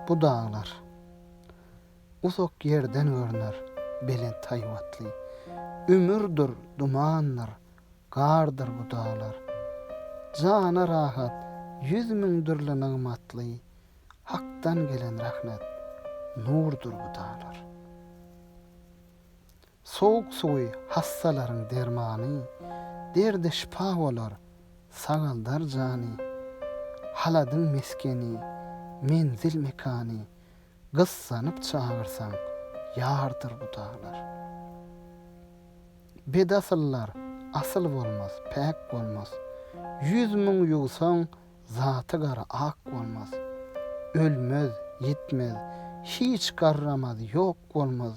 Bu daglar. Uzak ýerden görner belent haýbatly. Ümürdir dumandyr, gardyr bu daglar. Jana rahat, ýüz müň dürli nygmatly. Hakdan gelen rahmet, nurdur bu daglar. Sowuk suwy hassalaryň dermany, Derde şypa bolar, sagaldar jany. Haladyň meskeni, menzil mekany, Gyssanyp çagyrsaň, ýardyr bu daglar. Bedasyllar asyl bolmaz, päk bolmaz, Ýüz müň ýuwsaň, zaty gara ak bolmaz. Ölmez, ýitmez, hiç garramaz, ýok bolmaz,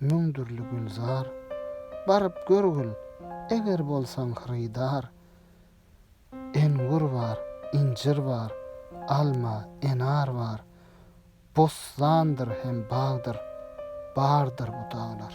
müň dürli gülzar. Baryp görgil, eger bolsaň hyrydar. Engur bar, injir bar, alma, enar bar. Bossandyr hem bagdyr, bardyr bu daglar.